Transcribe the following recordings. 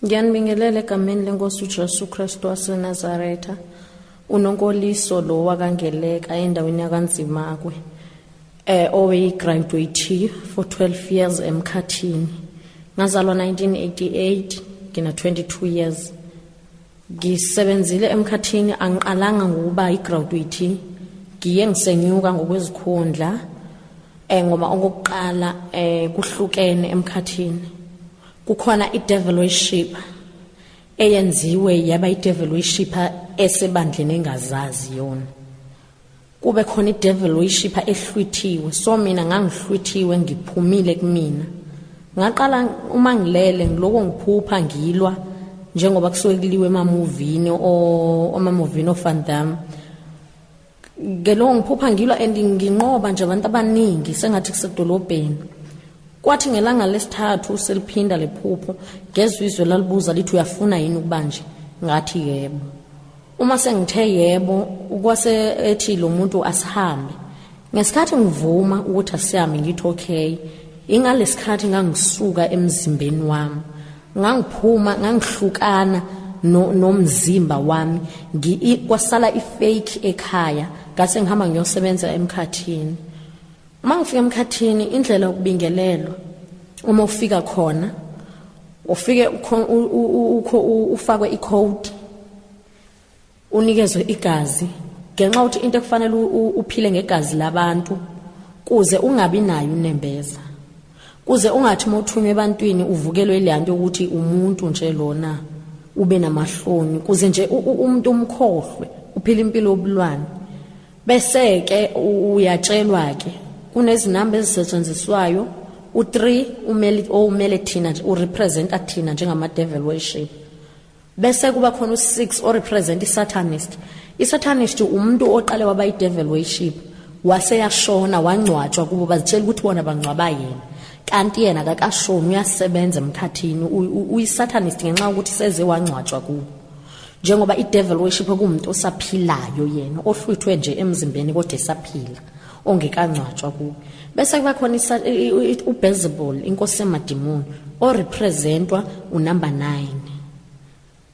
Ngiyanibingelela egameni lenkosi uJesu Kristu waseNazaretha. Unonkoliso lo wakangeleka endaweni yakanzimakwe. Eh oweyigraduate for 12 years emkhathini. Ngazalwa 1988, ngina 22 years. Ngisebenzile emkhathini angiqalanga ngokuba igraduate ngiye ngisenyuka ngokwezikhundla eh ngoba okokuqala eh kuhlukene emkhathini kukhona idevil worship eyenziwe yaba idevil worship esebandleni engazazi yona Kube khona idevil uyishipha ehlwithiwe so mina ngangihlwithiwe ngiphumile kumina. Ngaqala uma ngilele ngiloko ngiphupha ngilwa njengoba kusuke kuliwe emamuvini o omamuvini of Van Damme ngeloko ngiphupha ngilwa and nginqoba nje abantu abaningi sengathi kusedolobheni kwathi ngelanga lesithathu seliphinda lephupho ngezwe izwe lalibuza lithi uyafuna yini ukubanje ngathi yebo Uma sengithe yebo kwase ethi lo muntu asihambe. Ngesikhathi ngivuma ukuthi asihambe ngithi okay. Ingalesikhathi ngangisuka emzimbeni wami. Ngangiphuma ngangihlukana no nomzimba wami ngi kwasala ifake ekhaya ngase ngihamba ngiyosebenza emkhathini. Uma ngifika emkhathini indlela yokubingelelwa uma ufika khona ufike ufakwe icode unikezwe igazi ngenxa ukuthi into ekufanele uphile ngegazi labantu kuze ungabi nayo unembeza kuze ungathi mothunywa ebantwini uvukelwe leyanto ukuthi umuntu nje lona ube namahloni kuze nje umuntu umkhohlwe uphila impilo yobulwane Bese-ke uyatshelwa-ke kunezinamba ezisetshenziswayo u-3 umele owumele thina nje urepresenta thina njengama-devil worship bese kuba khona u-6 orepresenta i-satanist i-satanist umuntu oqale waba i-devil worship waseyashona wangcwatshwa kubo bazitshela ukuthi bona bangcwaba yena kanti yena kakashoni uyasebenza emkhathini uyi-satanist ngenxa yokuthi seze wangcwatshwa kubo njengoba i-devil worship okuwumuntu osaphilayo yena ohlwithwe nje emzimbeni kodwa esaphila ongekangcwatshwa kuwe bese kuba khona ubezebul inkosi yamadimoni orepresentwa unumber 9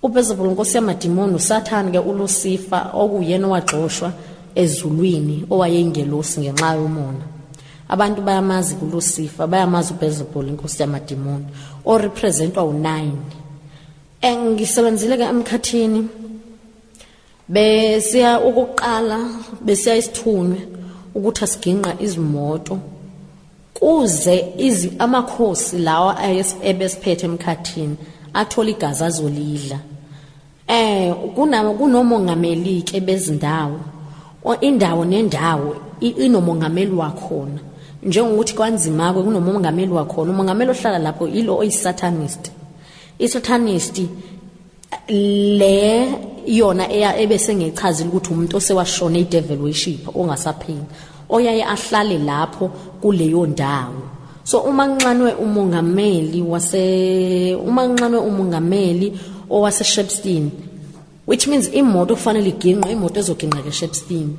ubezebul inkosi yamadimoni usathane ke ulusifa okuyena owagxoshwa ezulwini owayeyingelosi ngenxa yomona abantu bayamazi kulusifa bayamazi ubezebul inkosi yamadimoni orepresentwa u-9 Engisebenzile ke emkhathini besiya ukuqala besiya isithunywe ukuthi asiginqa izimoto kuze izi amakhosi lawa ebesiphethe emkhathini athola igazi azolidla eh kunawo kunomongameli ke bezindawo indawo nendawo inomongameli wakhona njengokuthi kwanzima ke kunomongameli wakhona umongameli ohlala lapho yilo oyisatanist Isothanisti le yona eya ebese ngechazile ukuthi umuntu osewashona idevil worship ongasaphili oyaye ahlale lapho kuleyo ndawo so uma nxanwe umongameli wase uma nxanwe umongameli owase Shepstein which means imoto kufanele iginqwe imoto ezoginqa ke Shepstein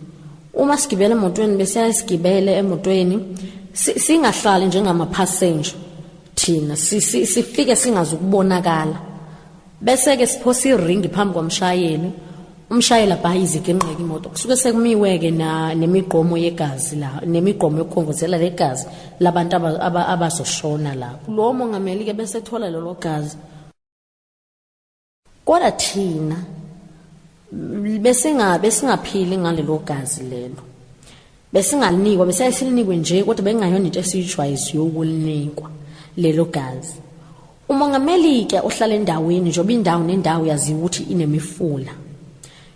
uma sigibela emotweni bese sigibele emotweni singahlali njengama passenger thina sifike singazi ukubonakala bese-ke siphosa iringi phambi kwamshayeli umshayeli abhaye iziginqeke imoto kusuke sekumiwe-ke nemigomo yegazi la nemigomo yokukhongozela legazi labantu abazoshona lapho lowo mongameli-ke bese ethola lelo gazi Kodwa thina besinga besingaphili ngalelo gazi lelo. Besingalinikwa besayisilinikwe nje kodwa bengayona into esiyijwayiziyo ukulinikwa lelo gazi. UMongameli ke ohlala endaweni njengoba indawo nendawo yaziwa ukuthi inemifula.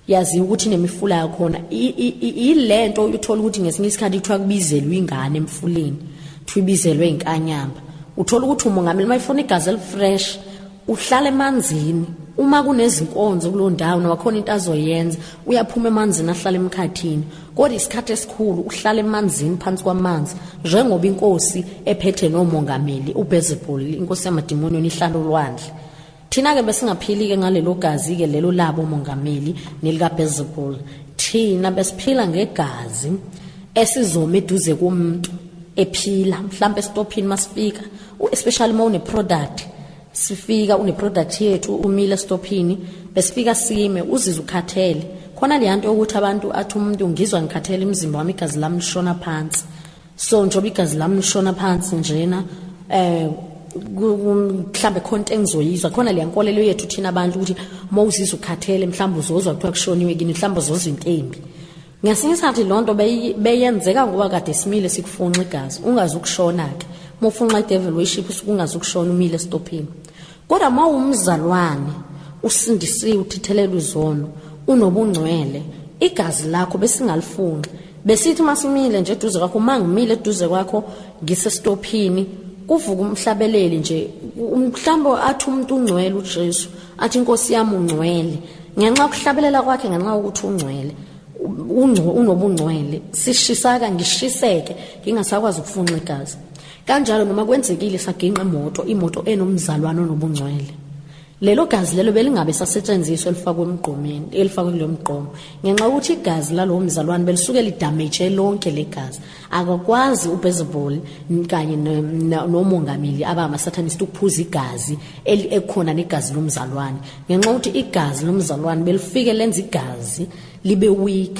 yaziwa ukuthi inemifula yakhona yilento uthola ukuthi ngesinye isikhathi kuthiwa kubizelwe ingane emfuleni kuthiwa ibizelwe inkanyamba uthola ukuthi umongameli uma efuna igazi elifresh uhlala emanzini uma kunezinkonzo kulo ndawo noma khona into azoyenza uyaphuma emanzini ahlala emkhathini kodwa isikhathi esikhulu uhlala emanzini phansi kwamanzi njengoba inkosi ephethe nomongameli ubezebholi inkosi yamadimoni ihlala olwandle Thina-ke besingaphili-ke ngalelo gazi-ke lelo labo mongameli nelikabhezebul thina besiphila ngegazi esizoma eduze komuntu ephila mhlawumbe esitophini masifika especially uma une-product sifika une-product yethu umile esitophini besifika sime uzize ukhathele khona leya nto yokuthi abantu athi umuntu ngizwa ngikhathele imizimba wami igazi lami lishona phansi so njengoba igazi lami lishona phansi njena eh mhlambe khona into engizoyizwa khona le nkolelo yethu thina abantu ukuthi uma uzizwa ukhathele mhlawumbe uzozwa kuthiwa kushoniwe kini mhlawumbe uzozwa into embi ngesinye isikhathi loo nto beyenzeka ngoba kade simile sikufunxa igazi ungazi ukushona-ke uma ufunxa i-devil worship usuke ungazi ukushona umile esitophini Kodwa mawumzalwane usindisiwe uthithelelwa izono unobungcwele igazi lakho besingalifunqi besithi uma simile nje eduze kwakho uma ngimile eduze kwakho ngisesitophini kuvuka umhlabeleli nje mhlawumbe athi umuntu ungcwele uJesu athi inkosi yami ungcwele ngenxa yokuhlabelela kwakhe ngenxa yokuthi ungcwele unobungcwele sishisaka ngishiseke ngingasakwazi ukufunxa igazi kanjalo noma kwenzekile saginqa imoto imoto enomzalwane onobungcwele lelo gazi lelo belingabe sasetshenziswa elifakwe emgqomeni elifakwe kulo mgqomo ngenxa yokuthi igazi lalowo mzalwane belisuke lidamage lonke legazi akakwazi uBezebol kanye nomongameli abamasatanist ukuphuza igazi elikhona negazi lomzalwane ngenxa yokuthi igazi lomzalwane belifike lenza igazi libe weak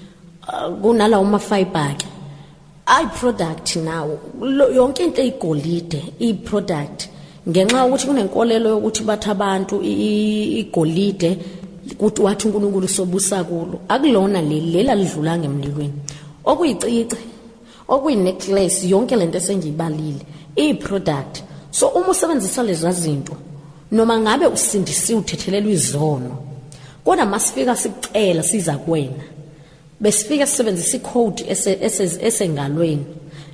uh, kunalawo mafiber ke ayi product nawo yonke into eyigolide iyi product ngenxa yokuthi kunenkolelo yokuthi bathi abantu igolide kuthi wathi uNkulunkulu sobusa kulo akulona leli lela lidlula ngemlilweni okuyicici Okuyi necklace yonke lento esengiyibalile iyi product. So uma usebenzisa lezi zinto noma ngabe usindisiwe uthethelelwa izono. Kodwa masifika sikucela siza kuwena. Besifika sisebenzisa icode esengalweni.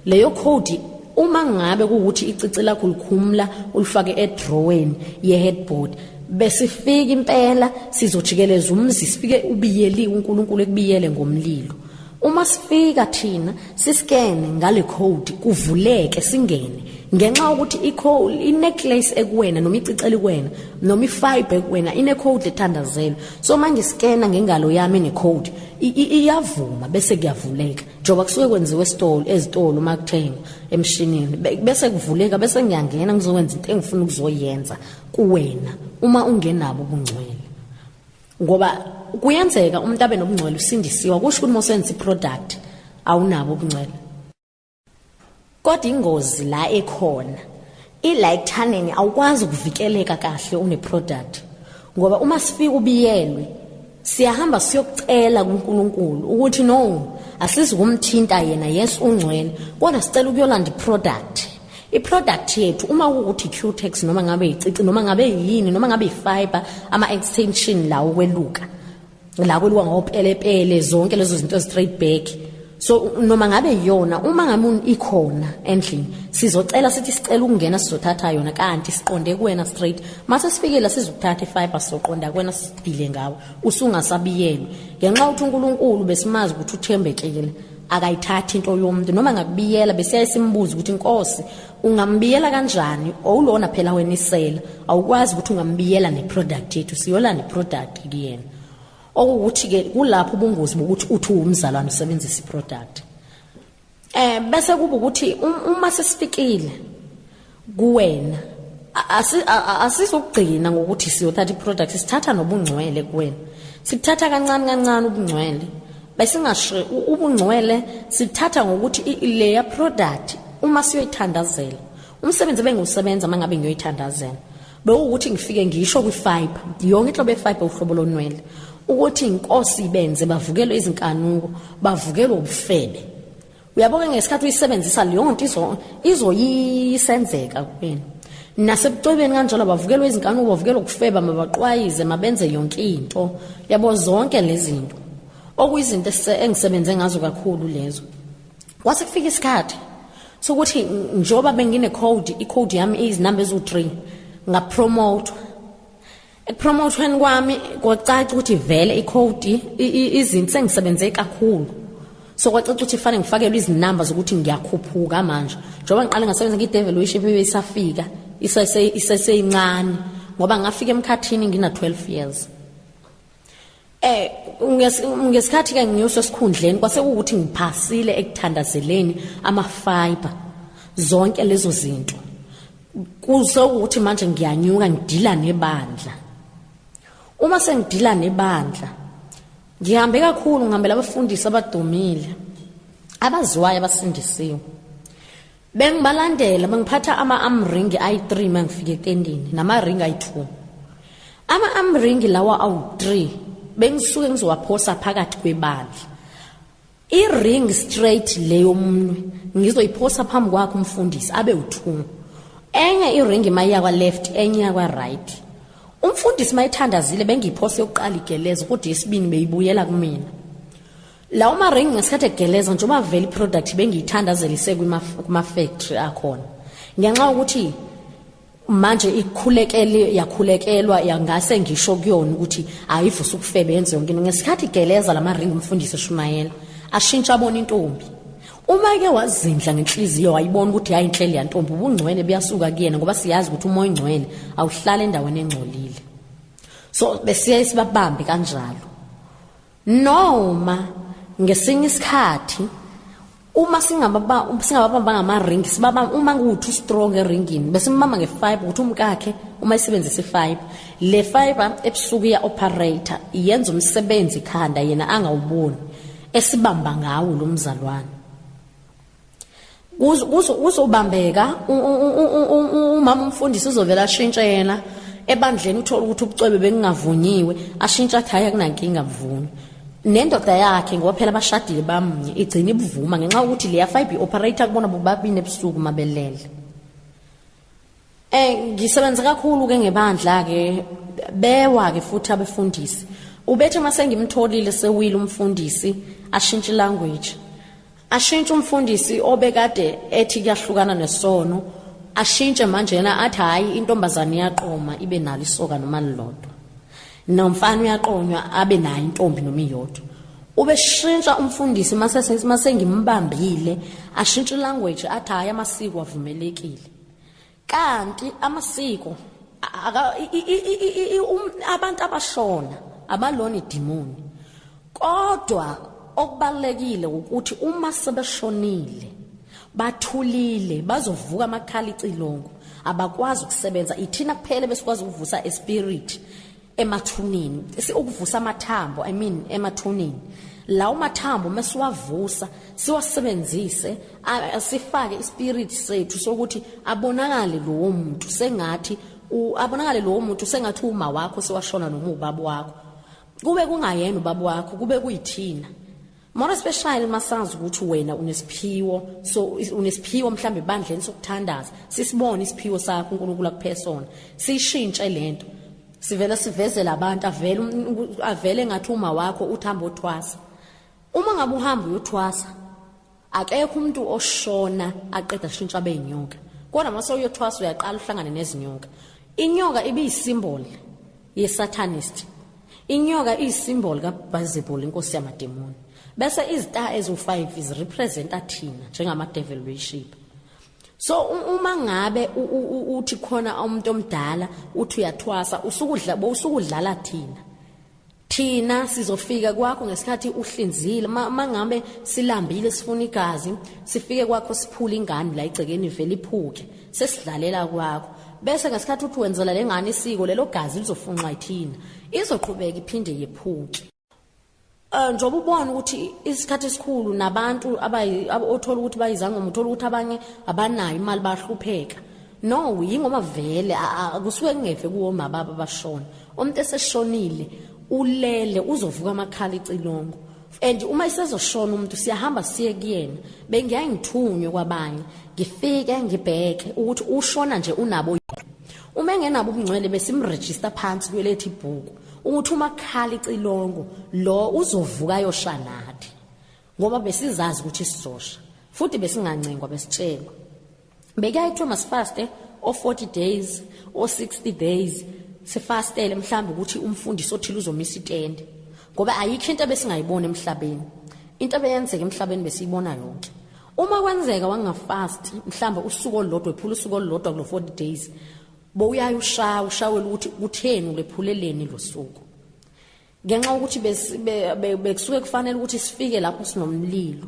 Leyo code uma ngabe ukuthi icici lakho likhumula ulifake edrawweni yeheadboard besifika impela sizojikeleza umzi sifike ubiyeliwe uNkulunkulu ekubiyele ngomlilo Uma sifika thina siskene ngale code kuvuleke singene ngenxa ukuthi icode ineclace ekuwena noma iciceli kuwena noma ifiber kuwena ine code ethandazelwe so manje scanner ngengalo yami ne code iyavuma bese kuyavuleka njoba kusuke kwenziwe esitolo ezitolo uma kuthenga emshinini bese kuvuleka bese ngiyangena ngizokwenza into engifuna ukuzoyenza kuwena uma ungenabo ubungcwele ngoba kuyenzeka umuntu abe nobungcwele usindisiwa kusho ukuthi mosenza iproduct awunabo ubungcwele kodwa ingozi la ekhona ila ekuthaneni awukwazi ukuvikeleka kahle uneproduct ngoba uma sifika ubiyelwe siyahamba siyokucela kuNkulunkulu ukuthi no asizi kumthinta yena yes ungcwele kodwa sicela ukuyolanda iproduct iproduct yethu uma ukuthi cutex noma ngabe icici noma ngabe yini noma ngabe ifiber ama extension lawo kweluka la kweluka ngopelepele zonke lezo zinto straight back so noma ngabe yona uma ngabe ikhona endlini sizocela sithi sicela ukungena sizothatha yona kanti siqonde kuwena straight mase sifikela sizokuthatha ifiber soqonda kuwena sidile ngawo usungasabiyelwe ngenxa ukuthi uNkulunkulu besimazi ukuthi uthembekile akayithathi into yomuntu noma ngakubiyela besiyaye simbuze ukuthi inkosi ungambiyela kanjani owulona phela wena isela awukwazi ukuthi ungambiyela neproduct yethu siyola neproduct kuyena okuwukuthi ke kulapho ubungozi bokuthi uthi uwumzalwane usebenzisa iproduct eh bese kuba ukuthi um, uma sesifikile kuwena asizokugcina ngokuthi siyothatha iproduct sithatha nobungcwele kuwena sikuthatha kancane kancane ubungcwele besingasho ubungcwele sithatha ngokuthi leya product uma siyoyithandazela umsebenzi ebengiwusebenza uma ngabe ngiyoyithandazela bewukuthi ngifike ngisho kwifiber yonke inhlobo yefiber uhlobo lonwele ukuthi inkosi ibenze bavukelwe izinkanuko bavukelwe ubufebe uyabo ke ngesikhathi uyisebenzisa leyo nto izo izoyisenzeka kuwena nasebucwebeni kanjalo bavukelwa izinkanuko bavukelwa ukufeba mabaqwayize mabenze yonke into yabo zonke lezinto okuyizinto engisebenze ngazo kakhulu lezo kwase kufika isikhathi sokuthi njoba bengine code i code yami izinamba ezu 3 ngapromote Ekupromothweni kwami kwacaca ukuthi vele ikhodi izinto sengisebenze kakhulu. So kwacaca ukuthi fanele ngifakelwe izinamba zokuthi ngiyakhuphuka manje. Njengoba ngiqale ngasebenza ngiDevil Wish ebibe isafika isese iseseyincane ngoba ngafika emkhathini ngina 12 years. Eh ngesikhathi ke ngiyoswa sikhundleni kwase ukuthi ngiphasile ekuthandazeleni ama fiber zonke lezo zinto kuze ukuthi manje ngiyanyuka ngidila nebandla uma sengidila nebandla ngihambe kakhulu ngihambela abafundisi abadumile abaziwayo abasindisiwe Bengibalandela bangiphatha ama-arm ring ayi-3 mangifika etendini nama-ring ayi-2. Ama-arm ring lawa awu-3 bengisuke ngizowaphosa phakathi kwebandla. I-ring straight le yomunwe ngizoyiphosa phambi kwakhe umfundisi abe u-2. Enye i-ring mayiya kwa-left enye iya kwa-right. Umfundisi mayithandazile bengiyiphose yokuqala igeleza kodwa yesibini beyibuyela kumina. lawo maringi ngesikhathi egeleza njengoba vele iproduct bengiyithandazelise kuma-factory akhona ngenxa yokuthi manje ikhulekele yakhulekelwa yangase ngisho kuyona ukuthi ayivuse ukufebe yenze yonke into ngesikhathi igeleza la maringi umfundisi eshumayela ashintsha abona intombi uma ke wazindla ngenhliziyo wayibona ukuthi hayi inhleli yantombi ubungcwele buyasuka kuyena ngoba siyazi ukuthi umoya ongcwele awuhlala endaweni engcolile so besiye sibabambe kanjalo Noma ngesinye isikhathi uma singababa singababamba ngama-ring sibaba uma kuwuthi ustrong eringini bese umbamba nge-five ukuthi umkakhe uma isebenzisa i-five le fiber ebusuku iya-operator yenza umsebenzi khanda yena angawuboni esibamba ngawo lo mzalwane kuzobambeka umama umfundisi uzovela ashintshe yena ebandleni uthole ukuthi ubucwebe bekungavunyiwe ashintshe athi hhayi akunankinga buvuni nendoda yakhe ngoba phela bashadile bamunye igcina ibuvuma ngenxa yokuthi leya fibe operator kubona bobabini ebusuku mabelele Eh ngisebenza kakhulu ke ngebandla ke bewa ke futhi abefundisi. Ubethe mase ngimtholile sewile umfundisi ashintshe language. Ashintshe umfundisi obekade ethi kuyahlukana nesono ashintshe manje yena athi hayi intombazane iyaqoma ibe nalo isoka noma lilodwa. Nomfana uyaqonywa abe nayo intombi noma iyodwa. Ubeshintsha umfundisi mase mase ngimbambile ashintshe language athi hayi amasiko avumelekile. Kanti amasiko abantu abashona abalona idimoni. Kodwa okubalulekile wukuthi uma sebeshonile bathulile bazovuka amakhala icilongo abakwazi ukusebenza ithina kuphela besikwazi ukuvusa espirit emathuneni ukuvusa amathambo i mean emathuneni lawo mathambo mesiwavusa siwasebenzise sifake ispirit sethu sokuthi abonakale lowo muntu sengathi abonakale lowo muntu sengathi uma wakho sewashona noma ubaba wakho kube kungayena ubaba wakho kube kuyithina more especially masazi ukuthi wena unesiphiwo so unesiphiwo mhlambe bandleni sokuthandaza sisibone isiphiwo sakho uNkulunkulu akuphesona sishintshe lento sivela sivezela abantu avele um, avele ngathi uma wakho uthamba othwasa uma ngabe uhamba uyothwasa Akekho umuntu oshona aqeda kushintsha abe inyoka. Kodwa uma sewuyothwasa uyaqala uhlangane nezinyoka. Inyoka ibiyisimboli yesatanist. Inyoka iyisimboli kaBhazebul inkosi yamademoni. Bese izita ezu5 zirepresenta thina njengama devil worship. So uma ngabe uthi khona umuntu omdala uthi uyathwasa usukudla bowusukudlala thina. Thina sizofika kwakho ngesikhathi uhlinzile mangabe silambile sifuna igazi sifike kwakho siphula ingane la igcekeni vele iphuke sesidlalela kwakho bese ngesikhathi uthi wenzela lengane isiko lelo gazi lizofunxa ithina izoqhubeka iphinde yephuke eh, njengoba ubona ukuthi isikhathi esikhulu nabantu othola ukuthi bayizangoma uthola ukuthi abanye abanayo imali bahlupheka No, yingoba vele akusuke kungeve kuwoma baba bashona. Umuntu eseshonile ulele uzovuka amakhala icilongo. And uma isezoshona umuntu siyahamba siye kuyena. Bengiyaye ngithunywe kwabanye. Ngifike ngibheke ukuthi ushona nje unabo Uma engenabo ubungcwele besimregister phansi kulethi ibhuku ukuthi uma khala icilongo lo uzovuka yosha nathi ngoba besizazi ukuthi sizosha futhi besingancengwa besitshelwa Bekaye kuthiwa masifaste o-40 days o-60 days sifastele mhlawumbe ukuthi umfundisi othile uzomisa itende ngoba ayikho into ebesingayibona emhlabeni into ebeyenzeka emhlabeni besiyibona yonke uma kwenzeka wangafast mhlawumbe usuku olulodwa ephula usuku olulodwa kulo 40 days bowuyaye ushawa ushawela ukuthi kutheni ulephuleleni losuku ngenxa yokuthi bekusuke kufanele ukuthi sifike lapho sinomlilo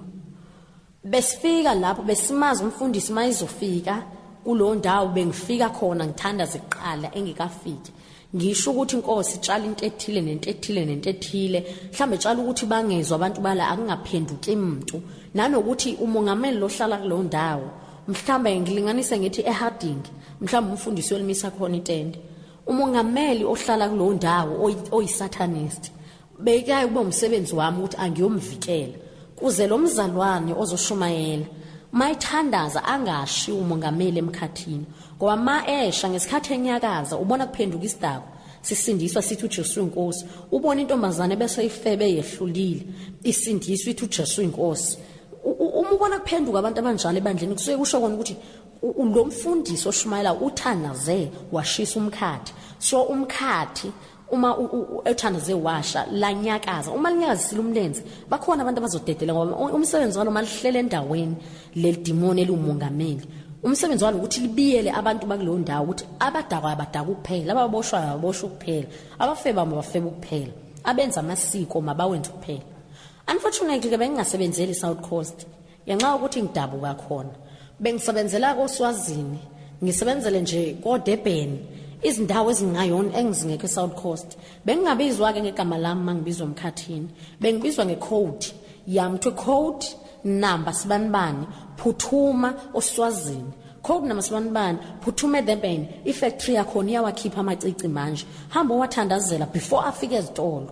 besifika lapho besimazi umfundisi mayizofika kulowo ndawo bengifika khona ngithanda ziqala engikafiki ngisho ukuthi inkosi itshala into ethile nento ethile nento ethile mhlawumbe itshala ukuthi bangezwa abantu bala akungaphenduki muntu nanokuthi umongameli lohlala kuleyo ndawo mhlawumbe ngilinganise ngithi eharding mhlawumbe umfundisi olimisa khona itende umongameli ohlala kulowo ndawo oyisatanist beyikaye ukuba umsebenzi wami ukuthi angiyomvikela kuze lo mzalwane ozoshumayela mayithandaza angashi umongameli emkhathini ngoba ma esha ngesikhathi enyakaza ubona kuphenduka isidakwa sisindiswa sithi uJesu inkosi ubona intombazane bese ifebe yehlulile isindiswa ithi uJesu inkosi uma ubona kuphenduka abantu abanjalo ebandleni kusuke kusho kona ukuthi Lo mfundisi oshumayela uthanaze washisa umkhathi. So umkhathi uma ethandaze washa lanyakaza uma linyakazisile umlenze bakhona abantu abazodedela ngoba umsebenzi walo malihlele endaweni lelidimoni eliwumongameli umsebenzi walo ukuthi libiyele abantu bakuleyo ndawo ukuthi abadakwa abadaka ukuphela ababoshwayo ababoshwa ukuphela abafeba mabafeba ukuphela abenza amasiko mabawenze ukuphela unfortunately ke bengingasebenzeli i-south coast Ngenxa yokuthi ngidabuka khona, bengisebenzela koSwazini, ngisebenzele nje koDurban, izindawo ezingayona engizingekho eSouth Coast. Bengingabizwa-ke ngegama lami uma ngibizwa emkhathini, bengibizwa ngecode yami kuthiwe code namba sibanibani phuthuma oswazini code namba sibanibani phuthuma eDurban ifactory yakhona iyawakhipha amacici manje hamba owathandazela before afike ezitolo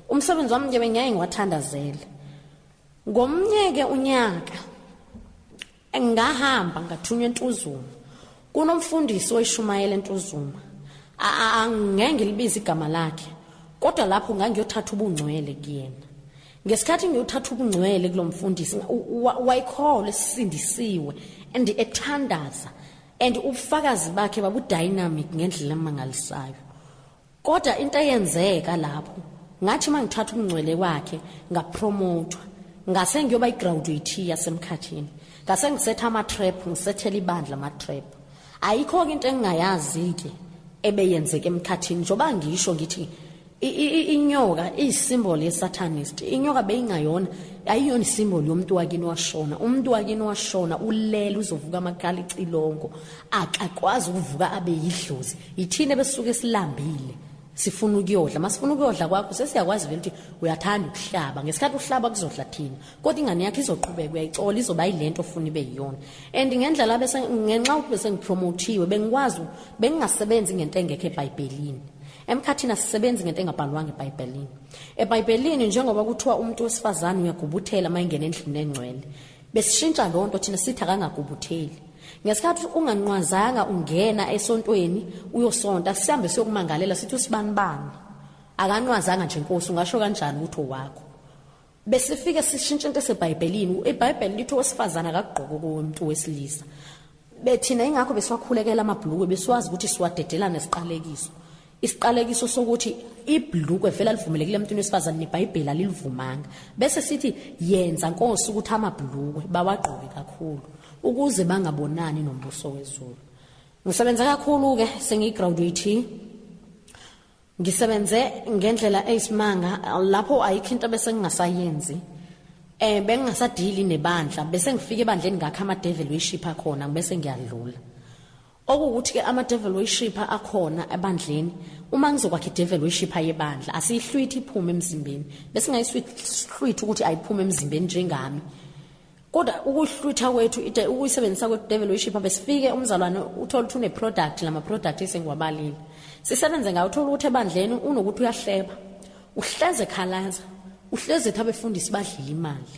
umsebenzi wami nje bengiyaye ngiwathandazele Ngomnyeke unyaka ngahamba ngathunywa entuzuma kunomfundisi oyishumayela entuzuma angeke ngilibize igama lakhe kodwa lapho ngangiyothatha ubungcwele kuyena ngesikhathi ngiyothatha ubungcwele kulo mfundisi wayikholwa esisindisiwe and ethandaza and ubufakazi bakhe babudynamic ngendlela emangalisayo Kodwa into eyenzeka lapho ngathi mangithatha umngcwele kwakhe ngapromothwa ngase ngiyoba igraduate yasemkhathini ngase ngisetha ama trap ngisethela ibandla ama trap ayikho ke into engingayazi ke ebeyenzeka emkhathini njoba ngisho ngithi inyoka iyisymbol yesatanist inyoka beyingayona ayiyona isymbol yomuntu wakini washona umuntu wakini washona ulele uzovuka amakhala icilongo akakwazi ukuvuka abe yidlozi Yithina besuke silambile sifuna ukuyodla masifuna ukuyodla kwakho sesiyakwazi vele ukuthi uyathanda ukuhlaba ngesikhathi uhlaba kuzodla thina kodwa ingane yakhe izoqhubeka uyayicola izoba yilento ofuna ibe yiyona and ngendlela bese ngenxa ukuthi bese ngipromothiwe bengikwazi bengingasebenzi ngento engekho ebhayibhelini emkhathini asisebenzi ngento engabhalwanga ebhayibhelini ebhayibhelini njengoba kuthiwa umuntu wesifazane uyagubuthela uma engena endlini engcwele Besishintsha lo nto thina sithi akangagubutheli. Ngesikhathi unganqwazanga ungena esontweni uyosonta sihambe siyokumangalela sithi usibanibani. Akanqwazanga nje Nkosi ungasho kanjani ukuthi owakho. Besifike sishintsha into eseBhayibhelini. IBhayibheli lithi owesifazana akagqoki okomuntu wesilisa. Bethina ingakho besiwakhulekela amabhulukwe besiwazi ukuthi siwadedela nesiqalekiso. isiqalekiso sokuthi ibhlukwe vele alivumelekile emntwini wesifazane nebhayibheli alilivumanga bese sithi yenza nkosi ukuthi amabhlukwe bawagqoke kakhulu ukuze bangabonani nombuso wezulu ngisebenze kakhulu-ke sengiyigraduate ngisebenze ngendlela eyisimanga lapho ayikho into bese ngingasayenzi eh bengingasadili nebandla bese ngifika ebandleni ngakha ama-devil worship akhona bese ngiyadlula Okuwukuthi ke ama devil worshipper akhona ebandleni uma ngizokwakha idevil worshipper yebandla asiyihlwithi iphume emzimbeni bese ngayiswithi ukuthi ayiphume emzimbeni njengami kodwa ukuhlwitha kwethu ide ukuyisebenzisa kwe devil worshipper besifike umzalwane uthola ukuthi une product lama product esengiwabalile sisebenze ngayo uthola ukuthi ebandleni unokuthi uyahleba uhleze khalaza uhleze thabe fundisi badlile imali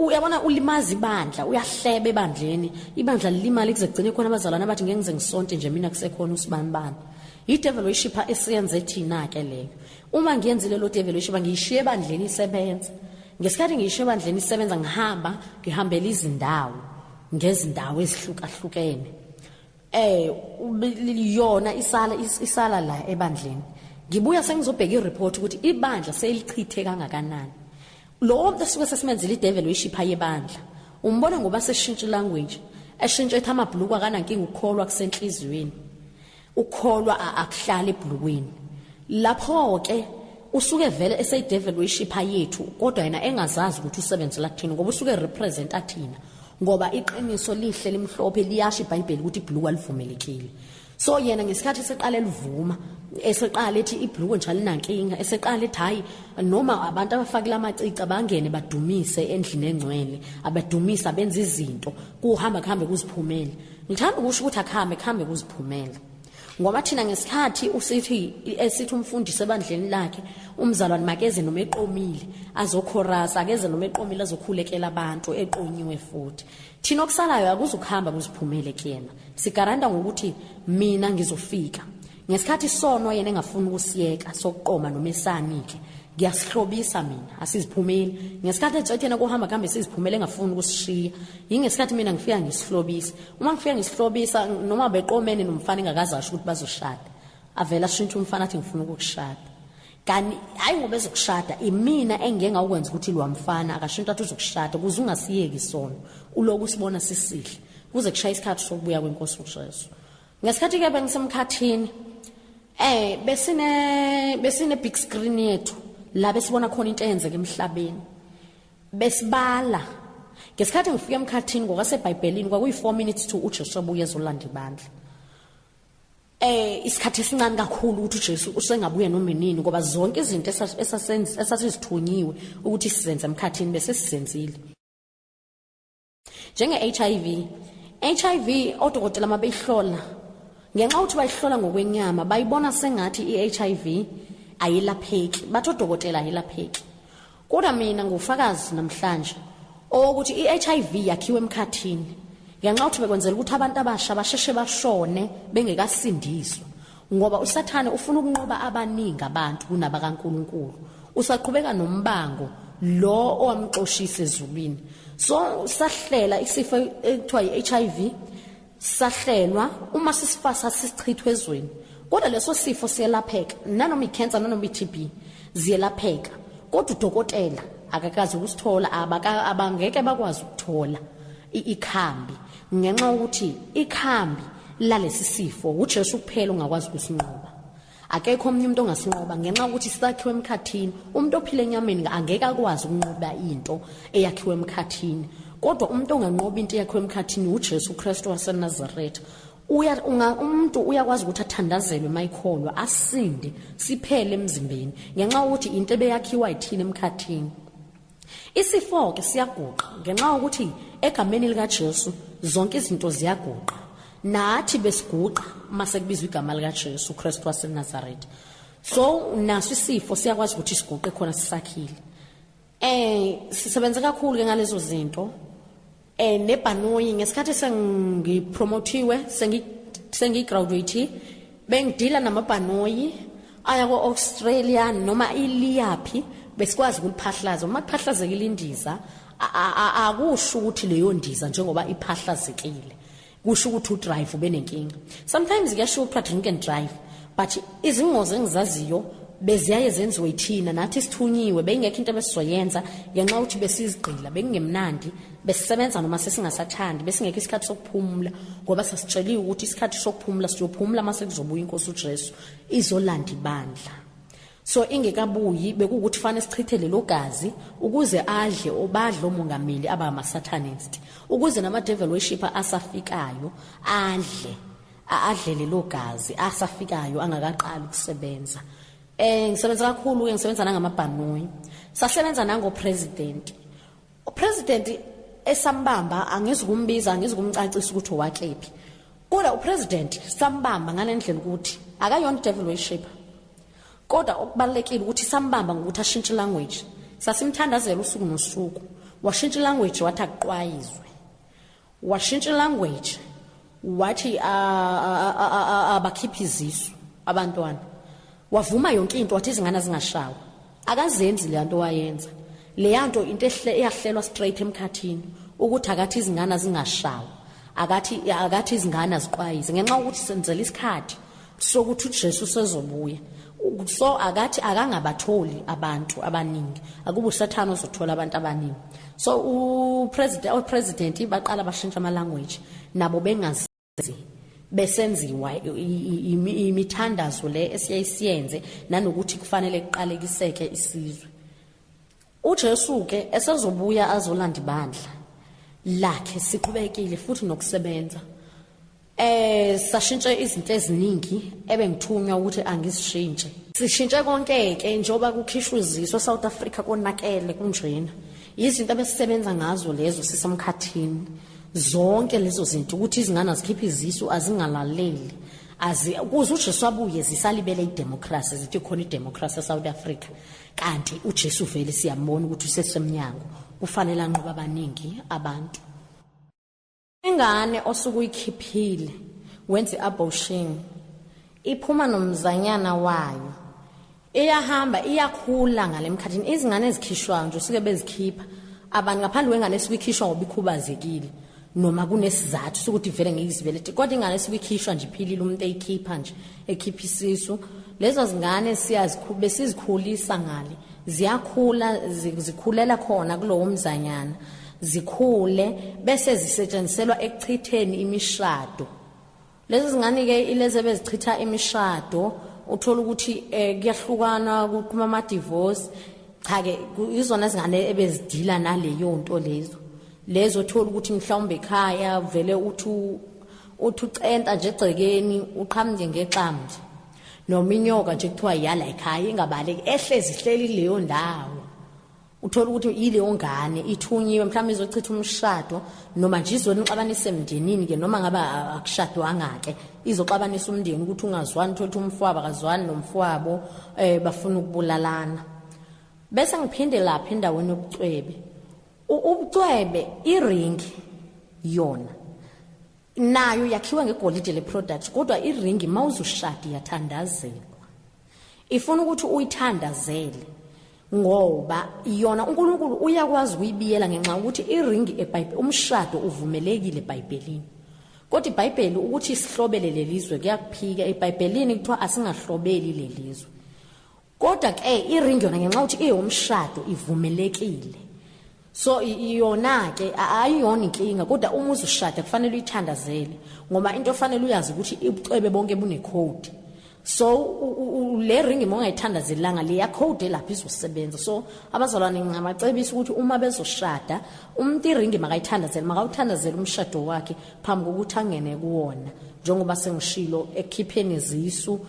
uyabona ulimaza ibandla uyahleba ebandleni ibandla lilimali kuze kugcine khona abazalwane abathi ngeke ngize ngisonte nje mina kusekhona usibani bani yidevaluation pha esiyenze thina ke leyo uma ngiyenzile lo devaluation ba ngiyishiye ebandleni isebenza ngesikhathi ngiyishiye ebandleni isebenza ngihamba ngihambela izindawo ngezindawo ezihlukahlukene eh yona isala isala la ebandleni ngibuya sengizobheka ireport ukuthi ibandla selichithe kangakanani lo muntu esuke sesimenzile idevil uyishipha yebandla umbona ngoba seshintshe language eshintshe ethi amabhuluku akanankinga ukukholwa kusenhliziyweni ukukholwa akuhlali ebhulukweni lapho ke usuke vele eseyidevil uyishipha yethu kodwa yena engazazi ukuthi usebenzela kuthina ngoba usuke representa thina ngoba iqiniso lihle limhlophe liyasho ibhayibheli ukuthi ibhuluku alivumelekile so yena ngesikhathi eseqala elivuma eseqala ethi ibhuluku nje alinankinga eseqala ethi hhayi noma abantu abafakile amacica bangene badumise endlini engcwele abadumise abenza izinto kuhamba kuhambe kuziphumele ngithanda ukusho ukuthi akuhambe kuhambe kuziphumele ngoba thina ngesikhathi usithi esithi umfundisi ebandleni lakhe umzalwane makeze noma eqomile azokhorasa akeze noma eqomile azokhulekela abantu eqonyiwe futhi thina okusalayo akuzukuhamba kuziphumele kuyena sigaranta ngokuthi mina ngizofika ngesikhathi sono yena engafuni ukusiyeka sokuqoma noma esani-ke ngiyasihlobisa mina asiziphumeli ngesikhathi etshetshena kuhamba kuhambe siziphumele engafuni ukusishiya yingesikhathi mina ngifika ngisihlobisa uma ngifike ngisihlobisa noma beqomene nomfana engakazi asho ukuthi bazoshada avela ashintshe umfana athi ngifuna ukukushada kanti hayi ngoba ezokushada imina engike ngawukwenza ukuthi lo mfana akashintsha athi uzokushada ukuze ungasiyeki isono uloku usibona sisihle kuze kushaya isikhathi sokubuya kwenkosi uJesu ngesikhathi ke bengisemkhathini eh besine besine big screen yethu la besibona khona into eyenzeka emhlabeni Besibala. Ngesikhathi ngifika emkhathini ngokwaseBhayibhelini kwakuyi-4 minutes to uJesu abuye ezolanda ibandla. Eh isikhathi esincane kakhulu ukuthi uJesu usengabuye noma inini ngoba zonke izinto esasenza esasizithunyiwe ukuthi sizenze emkhathini bese sizenzile. njenge-hiv hiv odokotela uma beyihlola ngenxa ukuthi bayihlola ngokwenyama bayibona sengathi i-hiv ayilapheki bathi odokotela ayilapheki kodwa mina ngufakazi namhlanje owokuthi i-hiv yakhiwe emkhathini ngenxa yokuthi bekwenzela ukuthi abantu abasha basheshe bashone bengekasindiswa Ngoba uSathane ufuna ukunqoba abaningi abantu kunabakaNkulunkulu. Usaqhubeka nombango lo owamxoshisa ezulwini. So sahlela isifo ekuthiwa iHIV sahlelwa uma sisifasa sisichithwe ezweni. Kodwa leso sifo siyelapheka nanoma icancer nanoma iTB ziyelapheka. Kodwa udokotela akakazi ukusithola abangeke bakwazi ukuthola ikhambi Ngenxa yokuthi ikhambi lalesi sifo uJesu kuphela ongakwazi ukusinqoba. Akekho omunye umuntu ongasinqoba ngenxa yokuthi sakhiwe emkhathini. Umuntu ophila enyameni angeke akwazi ukunqoba into eyakhiwe emkhathini. Kodwa umuntu onganqoba into eyakhiwe emkhathini uJesu Kristu waseNazaretha. Uya unga umuntu uyakwazi ukuthi athandazelwe mayikholwa asinde siphele emzimbeni ngenxa yokuthi into ebeyakhiwa yithina emkhathini. Isifo-ke siyaguqa ngenxa yokuthi egameni likaJesu zonke izinto ziyaguqa. Nathi besiguqa uma sekubizwa igama likaJesu Kristu waseNazaretha. So naso isifo siyakwazi ukuthi siguqe khona sisakhile. Eh sisebenze kakhulu ke ngalezo zinto eh nebhanoyi ngesikhathi sengipromothiwe sengi sengigraduate bengidila namabhanoyi aya ko-australia noma iliyaphi besikwazi ukuliphahlaza uma kuphahlazekile indiza akusho ukuthi leyo ndiza njengoba iphahlazekile kusho ukuthi udrive ubenenkinga sometimes kuyasho kuthiwa drink and drive but izingozi engizaziyo beziyaye zenziwe yithina nathi sithunyiwe beyingekho into ebesizoyenza ngenxa ukuthi besizigqila bekungemnandi besisebenza noma sesingasathandi besingekho isikhathi sokuphumula ngoba sasitsheliwe ukuthi isikhathi sokuphumula siyophumula uma sekuzobuya inkosi ujesu izolanda ibandla so ingekabuyi bekuwukuthi fane sichithe lelo gazi ukuze adle obadlo mongameli aba amasatanist ukuze nama devil worshipper asafikayo adle adle lelo gazi asafikayo angakaqali ukusebenza eh ngisebenza kakhulu ke ngisebenza nangamabhanoyi sasebenza nango president UPresident esambamba angizikumbiza angizikumcacisa ukuthi owakephi. Kodwa uPresident sambamba ngalendlela ukuthi akayona devil worshipper. Kodwa okubalekile ukuthi sambamba ngokuthi ashintshe language. Sasimthandazela usuku nosuku. Washintsha language wathi akuqwayizwe. Washintsha ilanguage wathi abakhiphe izisu abantwana. Wavuma yonke into wathi izingane azingashawa. Akazenzi le nto wayenza. Leyanto into ehle eyahlelwa straight emkhathini ukuthi akathi izingane azingashawa. Akathi akathi izingane aziqwayize ngenxa ukuthi senzela isikhathi sokuthi uJesu sezobuya so akathi akangabatholi abantu abaningi akuba usathana ozothola abantu abaningi so upresident opresident baqala bashintsha ama language nabo bengazi besenziwa imithandazo le esiyisiyenze nanokuthi kufanele kuqalekiseke isizwe UJesu ke esezobuya azolanda ibandla lakhe siqhubekile futhi nokusebenza. Eh sashintshe izinto eziningi ebengithunywa ukuthi angizishintshe. Sishintshe konke ke njoba kukhishwa iziso South Africa konakele kunjena. Izinto abesisebenza ngazo lezo sisemkhathini. Zonke lezo zinto ukuthi izingane azikhiphe izisu azingalaleli. Azi kuze uJesu abuye zisalibele idemocracy zithi khona idemocracy eSouth Africa. kanti uJesu vele siyambona ukuthi usesemnyango kufanele anqoba abaningi abantu ingane osuke uyikhiphile wenze abortion iphuma nomzanyana wayo iyahamba iyakhula ngalemkhathini izingane ezikhishwayo nje usuke bezikhipha abantu ngaphandle kwengane esuke ikhishwa ngoba ikhubazekile noma kunesizathu sokuthi vele ngiyizibelethe kodwa ingane esuke ikhishwa nje iphilile umuntu eyikhipha nje ekhipha isisu lezo zingane siyazikhube sizikhulisa ngale ziyakhula zikhulela khona kulowo mzanyana zikhule bese zisetshenziselwa ekuchitheni imishado Lezi zingane ke ilezi ebezichitha imishado uthola ukuthi eh, kuyahlukana kuqhuma ama divorce cha ke izona izingane ebezidila naleyo nto lezo lezo thola ukuthi mhlawumbe ekhaya vele uthi uthi ucenta nje egcekeni uqhamuke ngexamu nje noma inyoka nje kuthiwa yala ekhaya ingabaleki ehlezi ihleli leyo ndawo uthola ukuthi yileyo ngane ithunyiwe mhlawumbe izochitha umshado noma nje izonixabanisa emndenini ke noma ngabe akushadwanga-ke izoxabanisa umndeni ukuthi ungazwani uthole ukuthi umfwabo akazwani nomfwabo um bafuna ukubulalana bese ngiphinde lapha endaweni yobucwebe ubucwebe iringi yona nayo yakhiwe ngegolide le product kodwa iringi mawuzushadi yathandazelwa ifuna ukuthi uyithandazele ngoba yona uNkulunkulu uyakwazi ukuyibiyela ngenxa ukuthi iringi eBhayibheli umshado uvumelekile eBhayibhelini kodwa iBhayibheli ukuthi sihlobele lelizwe kuyakuphika eBhayibhelini kuthiwa asingahlobeli lelizwe Kodwa ke iring yona ngenxa ukuthi eyomshado ivumelekile. So iyona ke ayiyona inkinga kodwa uma uzushada kufanele uyithandazele ngoba into ofanele uyazi ukuthi ubucwebe bonke bune code. So le ring uma ungayithandazelanga le ya code lapha izosebenza. So abazalwane ngingabacebisa ukuthi uma bezoshada umuntu iring makayithandazele makawuthandazele umshado wakhe phambi kokuthi angene kuwona njengoba sengishilo ekhipheni izisu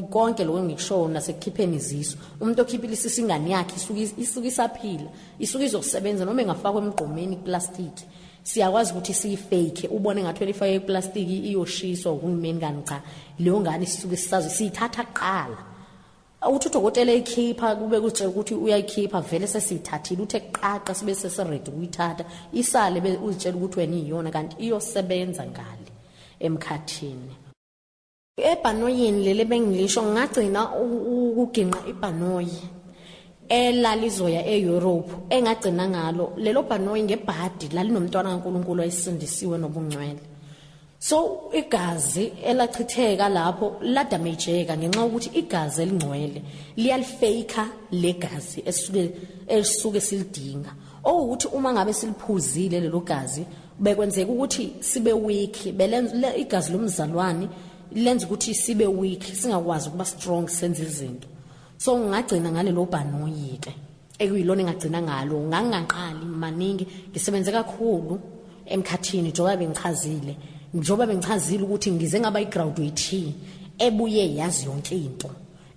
konke lokho engikushoyo nasekukhipheni izisu umuntu okhiphile isisu ingane yakhe isuke isaphila isuke izokusebenza noma engafakwa emgqomeni iplastic siyakwazi ukuthi siyifake ubone ngathi elifake iplastic iyoshiswa uhulumeni kanti cha leyo ngane sisuke sisazi siyithatha kuqala uthi udokotela eyikhipha kube kutshela ukuthi uyayikhipha vele sesiyithathile uthe kuqaqa sibe sesiredi ukuyithatha isale uzitshela ukuthi wena iyona kanti iyosebenza ngale emkhathini Ebhanoyini leli ebengilisho ngagcina ukuginqa ibhanoyi elalizoya e-Europe engagcina ngalo lelo bhanoyi ngebhadi lalinomntwana kaNkuluNkulu ayisindisiwe nobungcwele so igazi elachitheka lapho la damageka ngenxa ukuthi igazi elingcwele liyalifake legazi esuke esuke silidinga Okuwukuthi uma ngabe siliphuzile lelo gazi bekwenzeka ukuthi sibe weak belenza igazi lomzalwane lenza ukuthi sibe weak singakwazi ukuba strong senze izinto so ngagcina ngalelo bhanoyi ke ekuyilona engagcina ngalo ngangaqali maningi ngisebenze kakhulu emkhathini njengoba bengichazile njengoba bengichazile ukuthi ngize ngaba igraduate ebuye yazi yonke into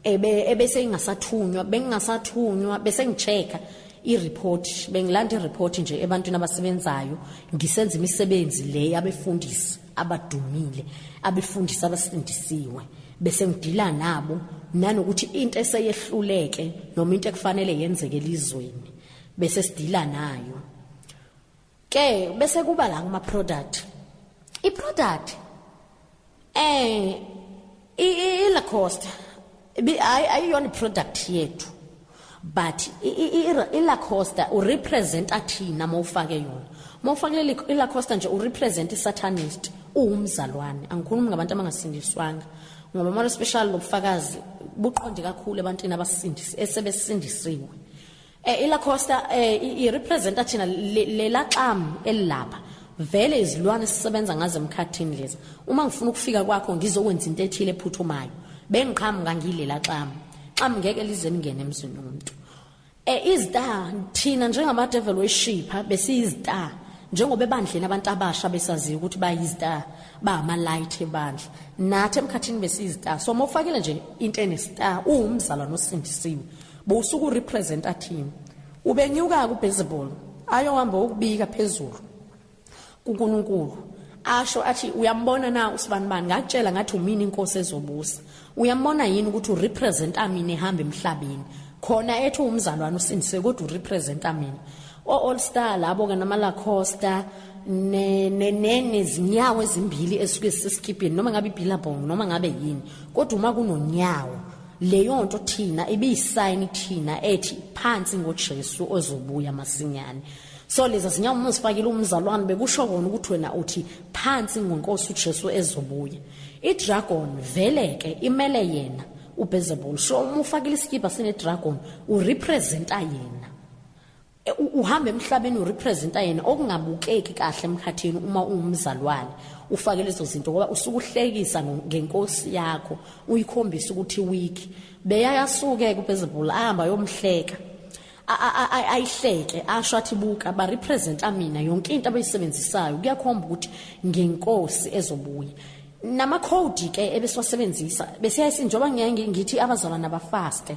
ebe ebese ingasathunywa bengingasathunywa bese ngichecka ireport bengilanda ireport nje ebantwini abasebenzayo ngisenza imisebenzi le yabefundisi abadumile abefundisi abasindisiwe bese ngidila nabo nanokuthi into eseyehluleke noma into ekufanele yenzeke elizweni bese sidila nayo ke bese kuba la kuma product i product eh i i la costa bi ayi ayiyona product yethu but i la costa u represent athina mawufake yona mawufake leli i la costa nje u represent i satanist uwumzalwane angikhulumi ngabantu abangasindiswanga ngoba mara special lobufakazi buqonde kakhulu ebantwini abasindisi esebesindisiwe Eh ila Costa eh i representa thina lela xam elilapha. Vele izilwane sisebenza ngazo emkhathini lezi. Uma ngifuna ukufika kwakho ngizokwenza into ethile ephuthumayo. Bengiqhamuka ngilela xam. Xam ngeke lize lingene emzini womuntu. Eh izita thina njengama devil worshipper besiyizita njengoba ebandleni abantu abasha besaziyo ukuthi bayizita bama light ebandla. Nathi emkhathini besiyizita. So mofakile nje into enesita uwumzalwane osindisiwe. Bowusuku representer team. Ubenyuka ku baseball ayohamba ukubika phezulu kuNkulunkulu asho athi uyambona na usibanibani ngakutshela ngathi umini inkosi ezobusa uyambona yini ukuthi urepresenta mina ehamba emhlabeni khona ethi umzalwane usindiswe kodwa urepresenta mina o-all star labo ke namalacosta nezinyawo ezimbili esuke sisikibhini noma ngabe ibhilabong noma ngabe yini kodwa uma kunonyawo leyo nto thina ibiyisayini thina ethi phansi ngoJesu ozobuya masinyane so lezi zinyawo uma uzifakile umzalwane bekusho kona ukuthi wena uthi phansi ngonkosi uJesu ezobuya idragon vele ke imele yena uBezebul so uma ufakile isikipa sinedragon urepresenta yena E, uhamba emhlabeni urepresenta yena okungabukeki kahle emkhathini uma ungumzalwane ufake lezo zinto ngoba usuke uhlekisa ngenkosi yakho uyikhombisa ukuthi weak beyayasuke kuphezulu ahamba yomhleka ayihleke asho athi buka ba representa mina yonke into abayisebenzisayo kuyakhomba ukuthi ngenkosi ezobuya namakhodi ke ebesiwasebenzisa besiyayisinjoba ngeke ngithi abazalwana bafaste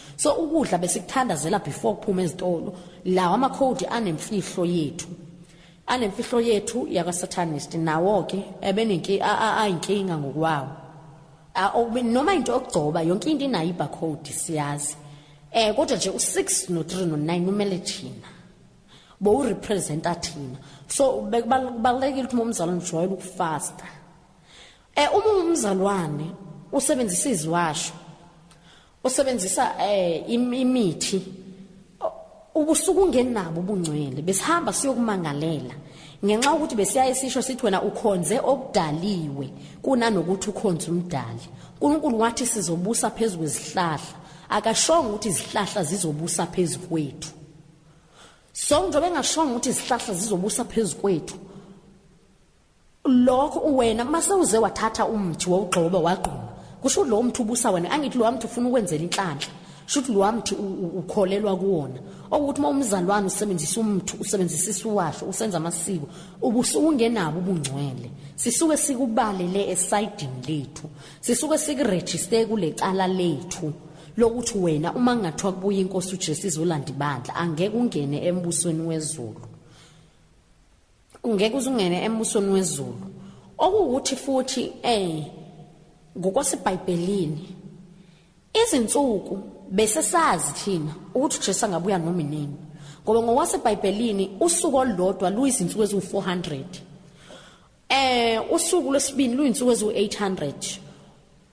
So ukudla besikuthandazela before kuphuma ezitolo lawa amakhodi anemfihlo yethu anemfihlo yethu yakasatanist nawo ke ebenenki ayinkinga ngokwawo noma into okugcoba yonke into inayo ibarcode siyazi eh kodwa nje u6 no3 no9 umele thina bo urepresenta thina so bekubalekile ukuthi umzalwane ujwayele ukufasta eh uma umzalwane usebenzisa iziwasho usebenzisa eh imithi ubusuku ungenabo ubungcwele besihamba siyokumangalela ngenxa ukuthi besiyaye sisho sithi wena ukhonze okudaliwe kunanokuthi ukhonze umdali uNkulunkulu wathi sizobusa phezulu kwezihlahla akashonga ukuthi izihlahla zizobusa phezulu kwethu so njengoba engashonga ukuthi izihlahla zizobusa phezulu kwethu Lokho uwena mase uze wathatha umthi wawugxoba wagquma. Kusho ukuthi lo mthi ubusa wena angithi lo mthi ufuna ukwenzela inhlanhla. Shuthi lo mthi ukholelwa kuwona. Okuthi uma umzalwane usebenzisa umthi usebenzisa isiwasho usenza amasiko ubusukungenabo ubungcwele. Sisuke sikubalele esidini lethu. Sisuke sikuregister kulecala lethu. lokuthi wena uma ngathiwa kubuya inkosi uJesu izolanda ibandla angeke ungene embusweni wezulu Ungeke uzungene embusweni wezulu. Okuwukuthi futhi eh ngokwasebhayibhelini izinsuku bese sazi thina ukuthi uJesu angabuya noma inini ngoba ngokwasebhayibhelini usuku olulodwa luyizinsuku eziwu-400 eh usuku lwesibili luyinsuku eziwu-800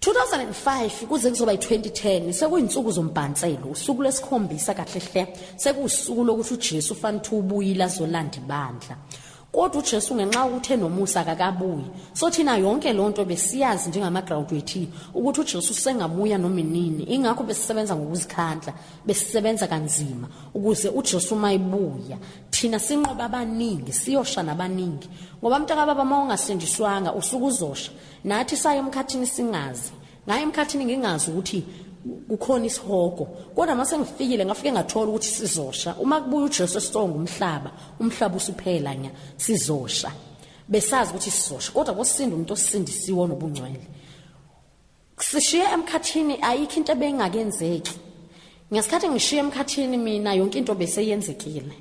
2005 kuze kuzoba yi-2010 sekuyinsuku zombhanselo usuku lwesikhombisa kahle hle sekuwusuku lokuthi ujesu fanele ukuthi ubuyile azolanda ibandla kodwa ujesu ngenxa yokuthi enomusa akakabuyi so thina yonke loo nto besiyazi njengamagraduate ukuthi ujesu usengabuya noma inini ingakho besisebenza ngokuzikhandla besisebenza kanzima ukuze ujesu uma ebuya thina sinqoba abaningi siyosha nabaningi ngoba mntakababa uma ungasindiswanga usuke uzosha nathi saye emkhathini singazi ngaye emkhathini ngingazi ukuthi kukhona isihogo kodwa mase ngifikile ngafike ngathola ukuthi sizosha uma kubuya uJesu esonga umhlaba umhlaba usuphela nya sizosha besazi ukuthi sizosha kodwa kosinda umuntu osindisiwe onobungcwele sishiye emkhathini ayikho into ebengakenzeki ngesikhathi ngishiye emkhathini mina yonke into beseyenzekile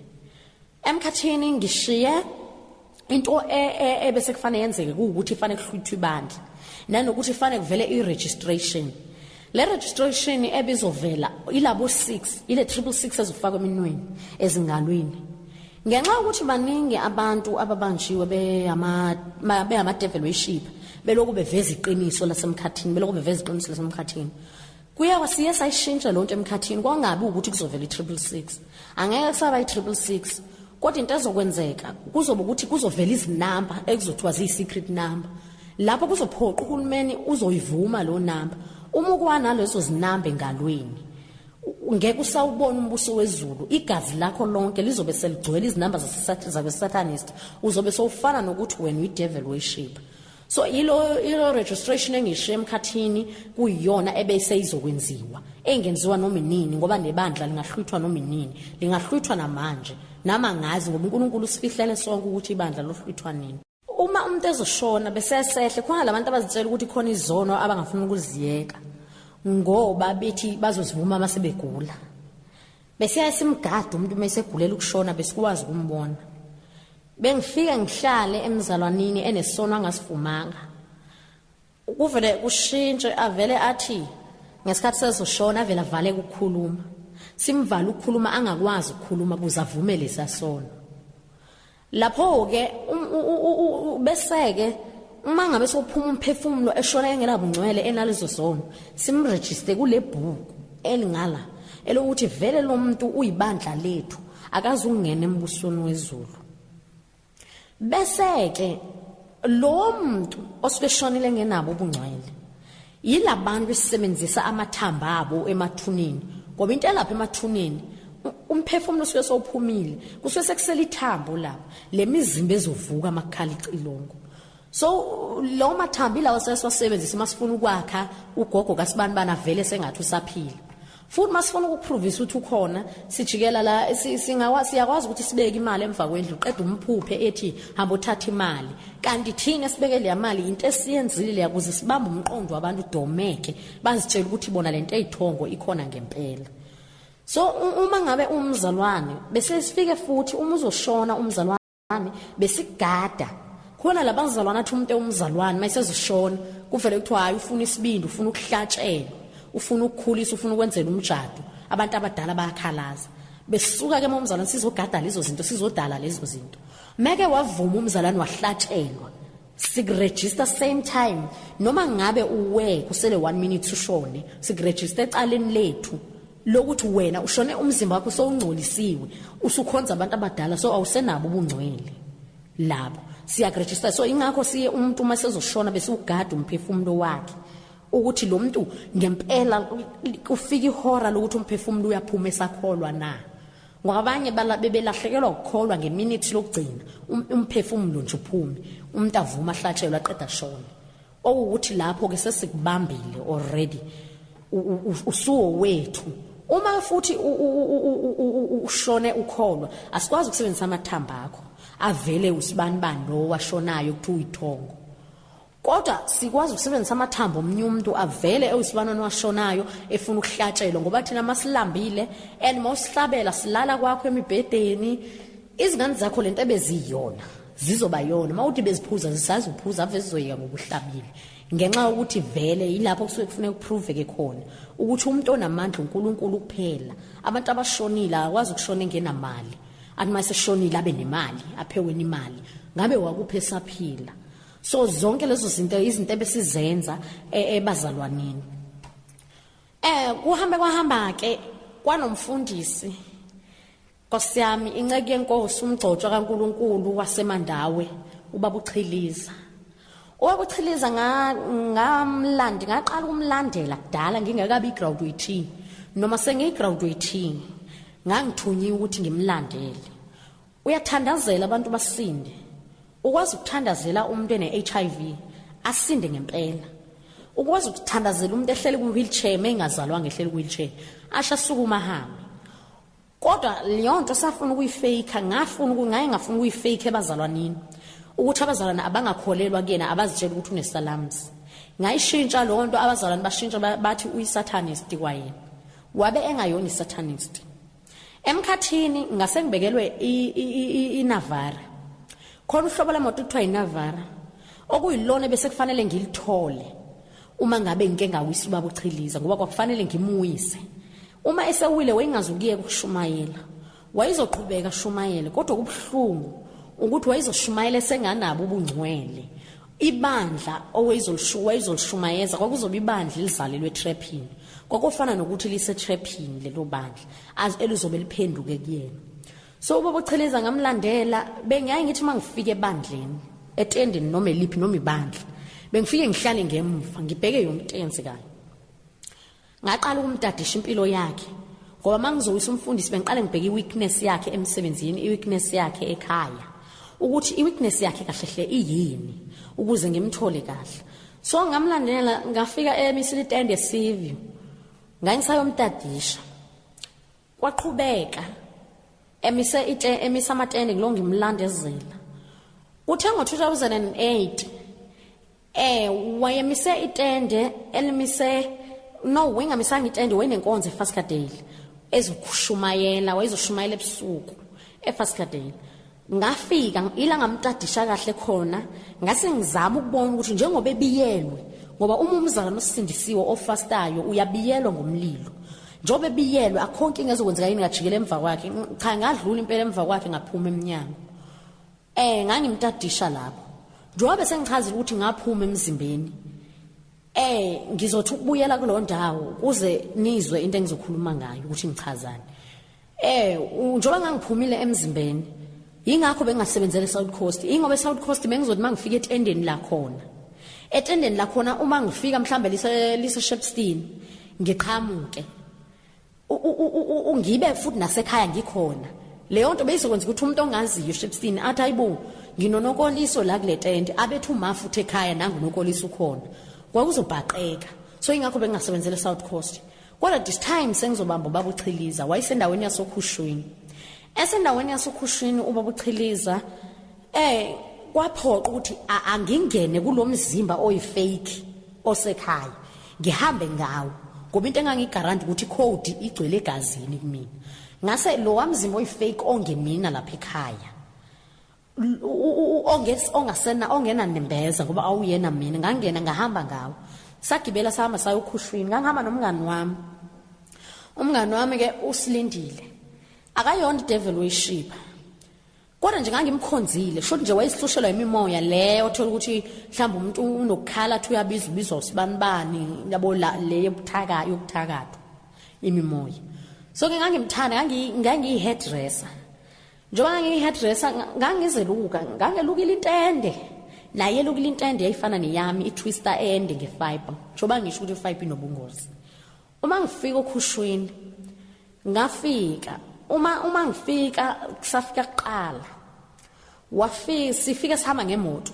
Emkhathini ngishiye into e, e, ebese kufanele yenzeke kuwukuthi kufanele kuhluthwe ibandla nanokuthi kufanele kuvele i-registration le registration ebizovela ilabo 6 ile 666 ezifakwa eminweni ezingalwini ngenxa ukuthi baningi abantu ababanjiwe behama behama devil worship belokhu beveza iqiniso lasemkhathini belokhu beveza iqiniso lasemkhathini Kuyawa siye sayishintsha lonto emkhathini kwangabi ukuthi kuzovela i-triple six angeke kusaba i-triple six kodwa into ezokwenzeka kuzoba ukuthi kuzovela izinamba ekuzothiwa ziyi-secret number lapho kuzophoqa uhulumeni uzoyivuma lo namba uma ukwanalezo zinamba engalweni ngeke usawubona umbuso wezulu igazi lakho lonke lizobe seligcwele izinamba zabesatanist uzobe sowufana nokuthi wena uyidevil worshiper so ilo ilo registration engishiye emkhathini kuyiyona ebeseyizokwenziwa engenziwa noma inini ngoba nebandla lingahlwithwa noma inini lingahlwithwa namanje nama ngazi ngoba uNkulunkulu usifihlele sonke ukuthi ibandla lohlwithwa nini uma umuntu ezoshona bese esehle khona labantu abazitshela ukuthi khona izono abangafuna ukuziyeka ngoba bethi bazozivuma uma sebegula Besiyaye simgade umuntu uma esegulela ukushona besikwazi ukumbona. Bengifike ngihlale emzalwanini enesono angasivumanga. Kuvele kushintshe avele athi ngesikhathi sezoshona avele avale ukukhuluma. Simvala ukukhuluma angakwazi ukukhuluma kuze avume lesasono. Lapho-ke um, bese-ke uma ngabe sophuma umphefumulo eshona engenabungcwele enalezo zono simrejiste kule bhuku elingala elokuthi vele lo muntu uyibandla lethu akaze ungena embusweni wezulu bese-ke lo muntu osuke eshonile engenabo ubungcwele Yilabantu esisebenzisa amathamba abo emathuneni ngoba into elapha emathuneni umphefumulo usuke sowuphumile kusuke sekusela ithambo lapho le mizimba ezovuka amakhala icilongo so lo mathambi lawo sesiwasebenzisa uma sifuna ukwakha ugogo kasibanibani avele sengathi usaphila Futhi masifuna ukupruvisa ukuthi ukhona sijikela la singawa siyakwazi ukuthi sibeke imali emva kwendlu qeda umphuphe ethi hamba uthatha imali kanti thina sibeke le mali into esiyenzile leya kuze sibambe umqondo wabantu udomeke bazitshela ukuthi bona lento eyithongo ikhona ngempela so uma ngabe umzalwane bese sifike futhi uma uzoshona umzalwane nami besigada khona labazalwana athi umuntu ewumzalwane mayisezoshona kuvele kuthiwa hayi ufuna isibindi ufuna ukuhlatshelwa ufuna ukukhulisa ufuna ukwenzela umjado abantu abadala bayakhalaza besuka ke momzalwane sizogada lezo zinto sizodala lezo zinto meke wavuma umzalwane wahlatshelwa sikuregister same time noma ngabe uwe kusele 1 minute ushone sikuregister ecaleni lethu lokuthi wena ushone umzimba wakho sowungcolisiwe usukhonza abantu abadala so awusenabo ubungcwele labo siyakuregister so ingakho siye umuntu uma sezoshona bese ugada umphefumulo wakhe ukuthi lo muntu ngempela kufika ihora lokuthi umphefumulo uyaphuma esakholwa na ngoba abanye bebelahlekelwa ukukholwa ngeminithi lokugcina um-, umphefumulo nje uphume umuntu avuma ahlatshelwe aqeda shona okuwukuthi lapho ke sesikubambile already usuwo wethu uma futhi ushone ukholwa asikwazi ukusebenzisa amathamba akho avele usibani bani lo washonayo ukuthi uyithongo kodwa sikwazi ukusebenzisa amathambo omnye umuntu avele ewusibanwana washonayo efuna ukuhlatshelwa ngoba thina masilambile and mawusihlabela silala kwakho emibhedeni izingane zakho lento ebeziyona zizoba yona uma uthi beziphuza zisazi ukuphuza ave zizoyeka ngokuhlabile ngenxa yokuthi vele yilapho kusuke kufuneka kuprove-ke khona ukuthi umuntu onamandla unkulunkulu kuphela abantu abashonile akwazi ukushona engenamali athi uma seshonile abe nemali apheweni imali ngabe wakuphi esaphila so zonke lezo zinto izinto ebesizenza e, ebazalwaneni eh kuhambe kwahamba ke kwanomfundisi Nkosi yami, inceku yenkosi umgcotshwa kaNkulunkulu waseMandawe, ubaba uChiliza. Ubaba uChiliza nga ngamlandi, ngaqala ukumlandela kudala ngingekabi igraduate noma sengiyigraduate. Ngangithunyiwe ukuthi ngimlandele. Uyathandazela abantu basinde. Ukwazi ukuthandazela umuntu ene HIV asinde ngempela. Ukwazi ukuthandazela umuntu ehleli ku wheelchair mengazalwa ngehleli ku wheelchair, asha sukuma hamba. Kodwa leyonto safuna ukuyifake ngafuna ukungaye ngafuna ukuyifake ebazalwanini ukuthi abazalwane abangakholelwa kuyena abazitshela ukuthi unesalamzi ngayishintsha leyo nto abazalwane bashintsha bathi uyisatanist kwayena wabe engayona isatanist emkhathini ngase ngibekelwe inavara khona uhlobo lemoto kuthiwa inavara okuyilona bese kufanele ngilithole uma ngabe ngike ngawisa ubaba uchiliza ngoba kwakufanele ngimuyise uma esewile wayengazukiyeka ukushumayela wayezoqhubeka shumayele kodwa kubuhlungu ukuthi wayezoshumayela esenganabo ubungcwele ibandla owayezolshumayeza kwakuzoba ibandla elizalelwe etraphini kwakofana nokuthi lisetraphini lelo bandla elizobe liphenduke kuyena so ubaba ucheleza ngamlandela bengiyaye ngithi uma ngifika ebandleni etendeni noma eliphi noma ibandla bengifike ngihlale ngemva ngibheke yomtensi kanye ngaqala ukumtadisha impilo yakhe ngoba mangizowisa umfundisi bengiqale ngibheke iweakness yakhe emsebenzini iweakness yakhe ekhaya ukuthi iweakness yakhe kahle hle iyini ukuze ngimthole kahle so ngamlandela ngafika emisile itende sivio ngangisayomtadisha Kwaqhubeka emise ite emisa amatende kulo ngimlandezela. Kuthe ngo-2008 eh wayemise itende elimise no wayengamisanga itende wayenenkonzo eFaskadale ezoshumayela wayezoshumayela ebusuku eFaskadale Ngafika ila ngamtadisha kahle khona ngase ngizama ukubona ukuthi njengoba ebiyelwe ngoba uma umzalwane osindisiwe ofastayo uyabiyelwa ngomlilo njengoba ebiyelwe akhonke ingezokwenzeka yini ngajikela emva kwakhe cha ngadlula impela emva kwakhe ngaphuma emnyango eh ngangimtadisha lapho njengoba bese ngichazile ukuthi ngaphuma emzimbeni eh ngizothi ukubuyela kulo ndawo kuze nizwe into engizokhuluma ngayo ukuthi ngichazani Eh njengoba ngangiphumile emzimbeni yingakho bengasebenzele South Coast ingoba eSouth Coast bengizothi mangifika etendeni la khona etendeni la khona uma ngifika mhlambe lise lise Shepstein ngiqhamuke ungibe futhi nasekhaya ngikhona leyo nto beyizokwenza ukuthi umuntu ongaziyo Shepstein athi ayibo nginonokoliso la kule tende abethu uma futhi ekhaya nangu nokoliso ukhona kwakuzobhaqeka so ingakho bengingasebenzele South Coast Kodwa this time sengizobamba ubaba uChiliza wayesendaweni yasoKhushwini. Esendaweni yasoKhushwini ubaba uChiliza eh kwaphoqa ukuthi angingene kulomzimba oyifake osekhaya ngihambe ngawo ngoba into engangigaranta ukuthi code igcwele egazini kumina ngase lo wamzimba oyifake ongemina lapha ekhaya ongasena ongena nembeza ngoba awuyena mina ngangena ngahamba ngawo sagibela sahamba sayokhushwini ngangihamba nomngani wami umngani wami ke usilindile akayona idevil worship kodwa nje ngangimkhonzile kusho nje wayesihlushela imimoya le othola ukuthi mhlawumbe umuntu unokukhala athi uyabiza ubiza usibanibani yabo le yokuthaka yokuthakatha imimoya so ke ngangimthanda ngangiyi-hairdresser Njengoba ngangiyihairdresser ngangizeluka, ngangelukile intende. Naye elukile intende yayifana neyami itwister ende ngefiber. Njengoba ngisho ukuthi ifiber inobungozi. Uma ngifika okhushwini ngafika uma uma ngifika kusafika kuqala wafika sifike sihamba ngemoto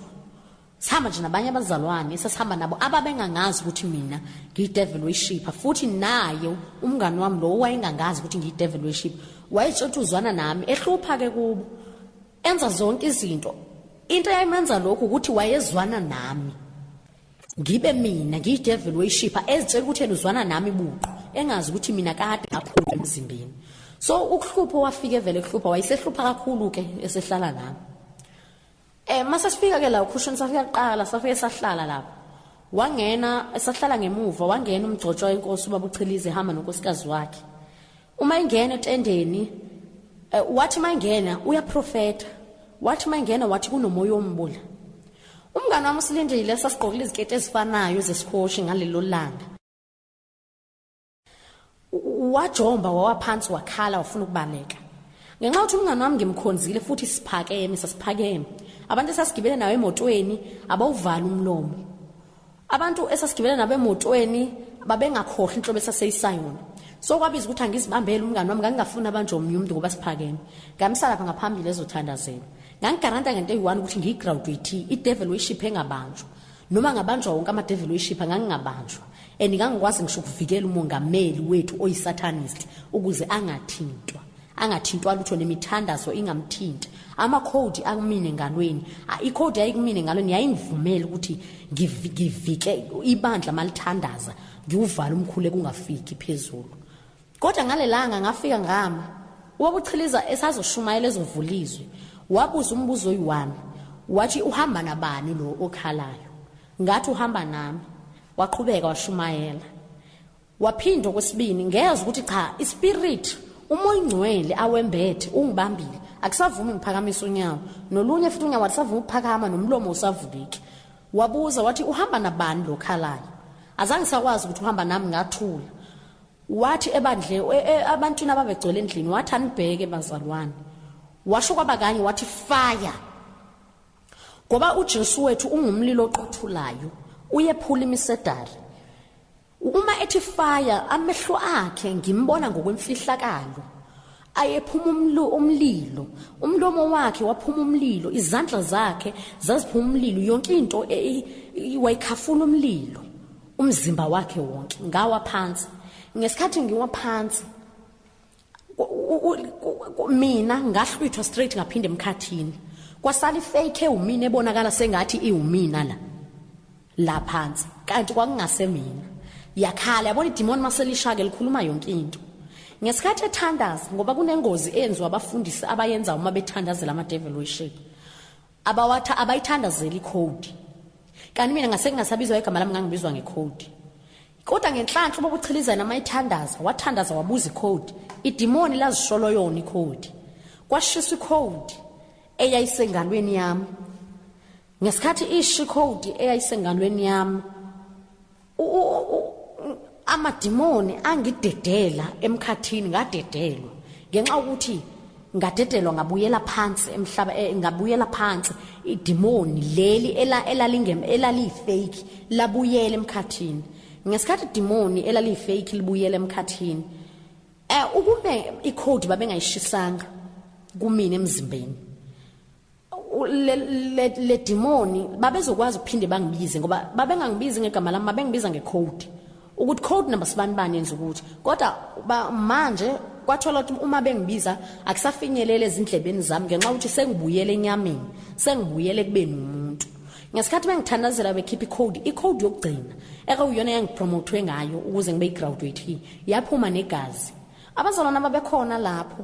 Sihamba nje nabanye abazalwane esasihamba nabo ababengangazi ukuthi mina ngiyidevil worshipper futhi naye umngani wami lo wayengangazi ukuthi ngiyidevil worshipper wayetshotha uzwana nami ehlupha ke kubo enza zonke izinto into eyayimenza lokhu ukuthi wayezwana nami ngibe mina ngiyidevil worshipper ezitshela ukuthi yena uzwana nami buqo engazi ukuthi mina kade ngaphuma emzimbeni so ukuhlupha wafike vele kuhlupha wayesehlupha kakhulu ke esehlala nami Eh mase sifika ke la ukhushini safika kuqala safike sahlala lapho. Wangena esahlala ngemuva wangena umgcotshwa inkosi ubaba uChilize hamba nonkosikazi wakhe. Uma ingena etendeni eh, wathi mangena uyaprofeta. Wathi mangena wathi kunomoya ombula. Umngane wami usilindile sasigqokile iziketi ezifanayo zesikhoshi ngalelo langa. wajomba wawaphansi wakhala wafuna ukubaleka ngenxa yokuthi umngane wami ngimkhonzile futhi siphakeme sasiphakeme abantu esasigibele nawo emotweni abawuvali umlomo abantu esasigibele nabo emotweni babengakhohlwa inhlobo esaseyisayona so kwabiza ukuthi angizibambele umngane wami ngangingafuni abantu omunye umuntu ngoba siphakeme ngamisa lapha ngaphambili ezothandazela ngangigaranta ngento eyi-one ukuthi ngiyigraduate idevil uyishiphe engabanjwa noma ngabanjwa wonke amadeveli oyishipha ngangingabanjwa and ngangikwazi ngisho ukuvikela umongameli wethu oyisatanist ukuze angathintwa angathintwa lutho nemithandazo ingamthinti amakhodi akumina engalweni ikhodi yayikumina engalweni yayingivumela ukuthi ngivike ibandla malithandaza ngiwuvala umkhulu ekungafiki phezulu Kodwa ngalelanga ngafika ngama ubabuchiliza esazoshumayela ezovulizwe wabuza umbuzo oyiwami wathi uhamba nabani lo okhalayo ngathi uhamba nami waqhubeka washumayela waphinda okwesibini ngezwe ukuthi cha ispirit uma oyingcwele awembethe ungibambile akusavumi ngiphakamisa unyawo nolunye futhi unyawo alisavumi ukuphakama nomlomo usavuleki wabuza wathi uhamba nabani lo khalayo azange sakwazi ukuthi uhamba nami ngathula Wathi ebandle, e, e, abantwini ababegcwele endlini, wathi, Anibheke, bazalwane. Washo kwaba kanye, wathi, Fire! Ngoba uJesu wethu ungumlilo oqothulayo, uyephula imisedari. Uma ethi fire, amehlo akhe ngimbona ngokwemfihlakalo. Ayephuma umlo umlilo, umlomo wakhe waphuma umlilo, izandla zakhe zaziphuma umlilo, yonke into e, e, wayikhafula umlilo. umzimba wakhe wonke ngawa phansi ngesikhathi ngiwa phansi mina ngahlwithwa straight ngaphinde emkhathini kwasala ifake ewumina ebonakala sengathi iwumina la la phansi kanti kwakungase mina yakhala yabona idemon maselishake likhuluma yonke into ngesikhathi ethandaza ngoba kunengozi eyenziwa abafundisi abayenza uma bethandazela ama devil worship Abawatha abayithandazeli ikhodi. Kanti mina ngase ngingasabizwa igama lami ngangibizwa ngekhodi. Kodwa ngenhlanhla uBaba uChilizana amayithandaza, wathandaza wabuza ikhodi. Idimoni lazisholo yona ikhodi. Kwashiswa ikhodi eyayisengalweni yami. Ngesikhathi ishi ikhodi eyayisengalweni yami, amadimoni angidedela emkhathini ngadedelwa ngenxa ukuthi ngadedelwa ngabuyela phansi emhlaba eh, ngabuyela phansi idimoni leli elalingem elaliyifake labuyela emkhathini ngesikhathi idimoni elaliyifake libuyela emkhathini eh ukube icode babengayishisanga kumina emzimbeni ledimoni babezokwazi ukuphinde bangibize ngoba babengangibizi ngegama lami babengibiza ngecode ukuthi code number sibani bani yenza ukuthi kodwa manje kwathola ukuthi uma bengibiza akusafinyelele ezindlebeni zami ngenxa ukuthi sengibuyele enyameni sengibuyele kubeni umuntu ngesikhathi bengithandazela bekhipha icode icode yokugcina ekuyona yangipromothwe ngayo ukuze ngibe igraduate yaphuma negazi abazalwana babekhona lapho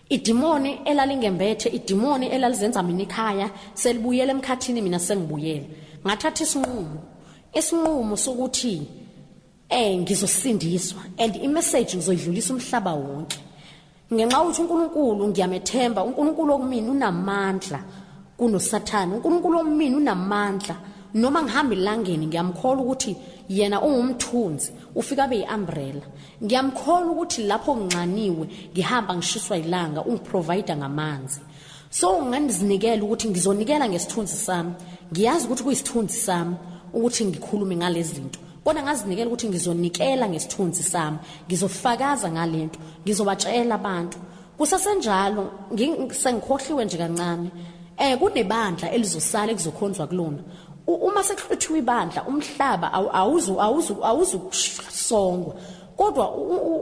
Idimoni elalingembethe, idimoni elalizenza mina ikhaya, selibuyele emkhathini mina sengibuyele. Ngathatha isinqumo. Isinqumo sokuthi eh ngizosindiswa and imessage ngizoyidlulisa umhlaba wonke. Ngenxa ukuthi uNkulunkulu ngiyamethemba, uNkulunkulu okumina unamandla kunoSathane. uNkulunkulu omina unamandla noma ngihamba elangeni ngiyamkholwa ukuthi yena ungumthunzi ufika abe yi-umbrella ngiyamkholwa ukuthi lapho nginxaniwe ngihamba ngishiswa ilanga ungiprovider ngamanzi so ngandizinikela ukuthi ngizonikela ngesithunzi sami ngiyazi ukuthi kuyisithunzi sami ukuthi ngikhulume ngalezi zinto kodwa ngazinikela ukuthi ngizonikela ngesithunzi sami ngizofakaza ngalento ngizobatshela abantu Kusesenjalo ngisengikhohliwe nje kancane. Eh kunebandla elizosala ekuzokhonzwa kulona. Uma sekuhluthiwa ibandla umhlaba awuzu awuzu awuzukusongwa. Kodwa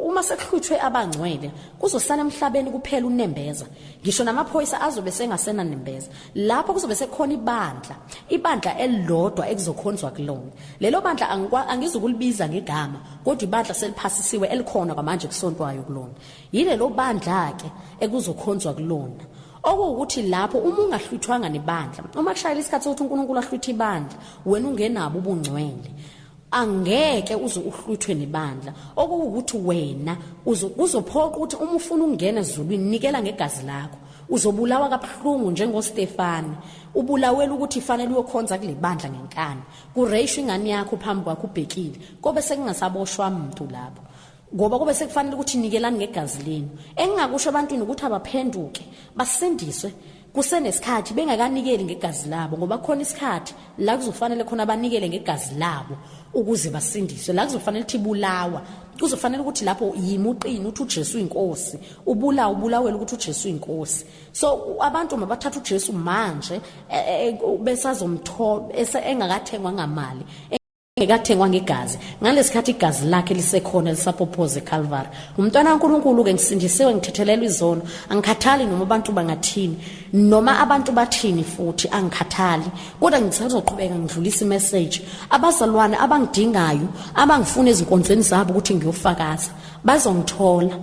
uma sekuhluthwe abangcwele kuzosala emhlabeni kuphela unembeza. Ngisho namaphoyisa azobe sengasena nembeza. Lapho kuzobe sekukhona ibandla, ibandla elilodwa ekuzokhonzwa kulona. Lelo bandla angizukulibiza ngegama, kodwa ibandla seliphasisiwe elikhona kwamanje kusontwayo kulona. Yilelo bandla-ke ekuzokhonzwa kulona. Okuwukuthi lapho uma ungahlwithwanga nebandla, uma kushayela isikhathi sokuthi uNkulunkulu ahlwithe ibandla, wena ungenabo ubungcwele. Angeke uze uhlwithwe nebandla. Okuwukuthi wena kuzophoqa ukuthi uma ufuna ukungena ezulwini nikela ngegazi lakho. Uzobulawa kabuhlungu njengoStefane. Ubulawela ukuthi fanele uyokhonza kule bandla ngenkani. Kureyishwa ingane yakho phambi kwakho ubhekile. Kobe sekungasaboshwa muntu lapho. ngoba kube sekufanele ukuthi nikelani ngegazi lenu engingakusho ebantwini ukuthi abaphenduke basindiswe kusenesikhathi bengakanikeli ngegazi labo ngoba khona isikhathi la kuzofanele khona banikele ngegazi labo ukuze basindiswe la kuzofanele ukuthi bulawa kuzofanele ukuthi lapho yimuqini uthi uJesu inkosi ubula ubulawela ukuthi uJesu inkosi so abantu mabathatha uJesu manje e, e, e, besazomthola engakathengwa ngamali engekathengwa ngegazi ngalesikhathi igazi lakhe lisekhona lisapophoze eCalvary ngumntwana kaNkulunkulu ke ngisindisiwe ngithethelelwa izono angikhathali noma abantu bangathini noma abantu bathini futhi angikhathali kodwa ngisazoqhubeka ngidlulisa imessage abazalwane abangidingayo abangifuna ezinkonzweni zabo ukuthi ngiyofakaza bazongithola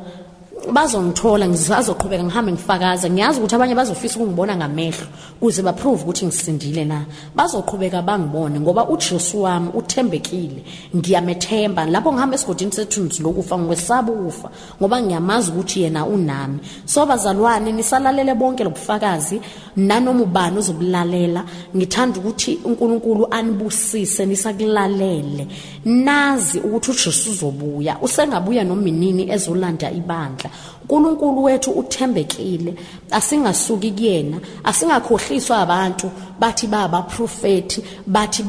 bazongithola ngisazoqhubeka ngihambe ngifakaza ngiyazi ukuthi abanye bazofisa ukungibona ngamehlo kuze baprove ukuthi ngisindile na bazoqhubeka bangibone ngoba uJesu wami uthembekile ngiyamethemba lapho ngihamba esigodini sethunzi lokufa ngikwesaba ukufa ngoba ngiyamazi ukuthi yena unami so bazalwane nisalalele bonke lobufakazi nanoma ubani uzobulalela ngithanda ukuthi uNkulunkulu anibusise nisakulalele nazi ukuthi uJesu uzobuya usengabuya noma inini ezolanda ibandla uNkulunkulu wethu uthembekile asingasuki kuyena asingakhohliswa abantu bathi baba profeti bathi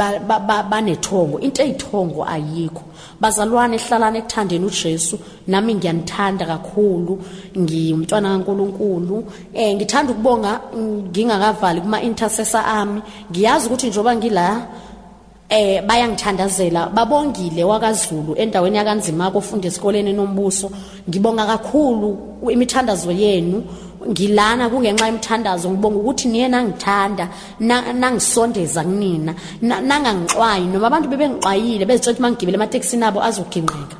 banethongo into eyithongo ayikho bazalwane hlalana ekuthandeni uJesu nami ngiyanithanda kakhulu ngiyumntwana kaNkuluNkulu eh ngithanda ukubonga ngingakavali kuma intercessor ami ngiyazi ukuthi njoba ngila eh bayangithandazela babongile wakaZulu endaweni yakanzima kofunda esikoleni nombuso ngibonga kakhulu imithandazo yenu ngilana kungenxa yemthandazo ngibonga ukuthi niye nangithanda nangisondeza kunina nangangixwayi noma abantu bebengixwayile bezitshela ukuthi mangigibele ematekisini abo azogingqeka